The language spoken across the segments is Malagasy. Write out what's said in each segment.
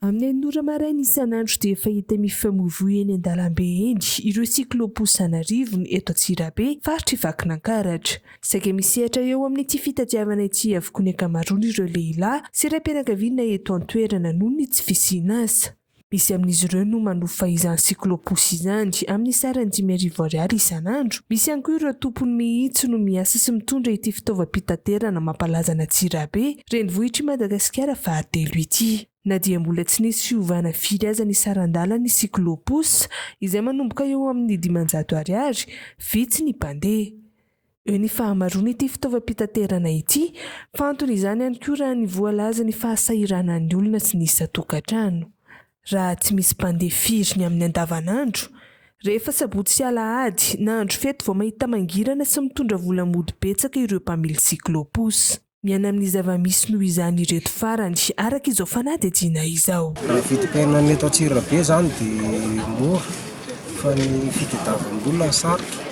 Amin'ny enina ora maraina isan'andro dia efa hita mifamoivoy eny an-dalambe eny ireo cyclo-pousse an'arivony eto Antsirabe, faritr'i Vakinankaratra. Saika misehatra eo amin'ity fitadiavana ity avokoa ny ankamaroan'ireo lehilahy sy raim-pianakaviana eto an-toerana noho ny tsy fisian'asa. Misy amin'izy ireo no manofa izany cyclo-pousse izany amin'ny sarany dimy arivo ariary isan'andro. Misy ihany koa ireo tompony mihitsy no miasa sy mitondra ity fitaovam-pitaterana mampalaza an'Antsirabe Renivohitr'i Madagasikara fahatelo ity. Na dia mbola tsy nisy fiovana firy aza ny saran-dalan'ny cyclo-pouss, izay manomboka eo amin'ny dimanjato ariary, vitsy ny mpandeha. Eo ny fahamaroan'ity fitaovam-pitaterana ity, fa anton'izany ihany koa raha ny voalaza ny fahasahiranan'ny olona sy ny isan-tokantrano. Raha tsy misy mpandeha firy ny amin'ny andavanandro, rehefa sabotsy sy alahady na andro fety vao mahita mangirana sy mitondra vola mody betsaka ireo mpamily cyclo-pouss. Miaina amin'ny zava-misy noho izany ireto farany, araka izao fanadihadiana izao. Ny vidim-piainana eto Antsirabe izany dia mora fa ny fitadiavam-bola no sarotra.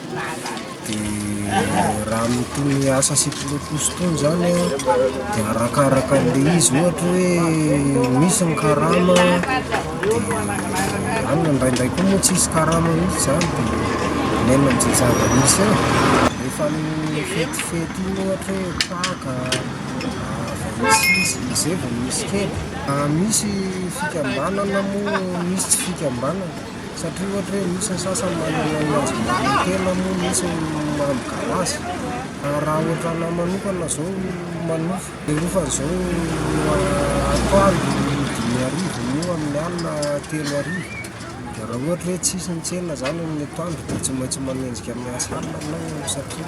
Dia raha amin'itony asa sy pilotous itony izany dia arakaraka an'ilay izy, ohatra hoe misy ny karama dia any, na indraindray koa moa tsy misy karama mihitsy izany dia miaina amin'izay zava-misy eo. Rehefa amin'ny fetifety. Tiany ohatra hoe traka, zava-misy, izay vao misy kely. Misy fikambanana moa misy tsy fikambanana satria ohatra hoe misy ny sasany manana ny anjomba amin'ny tena moa misy ny miaro garage. Raha ohatra anah manokana izao manofa dia ohatra izao atoandro dimy arivo eo amin'ny alina telo arivo dia raha ohatra hoe tsisy ny tsena izany amin'ny atoandro dia tsy maintsy manenjika miasa alina ianao satria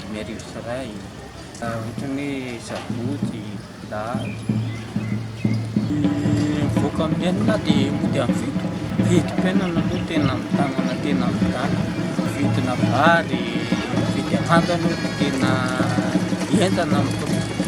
dimy arivo sy iray, ohatran'ny hoe sabotsy, lahady. Ny mivoaka amin'ny enina dia mody amin'ny fito. Vidim-piainana aloha tena mitamana tena mitany. Vidina vary, vidy anana aloha tena entana amin'ny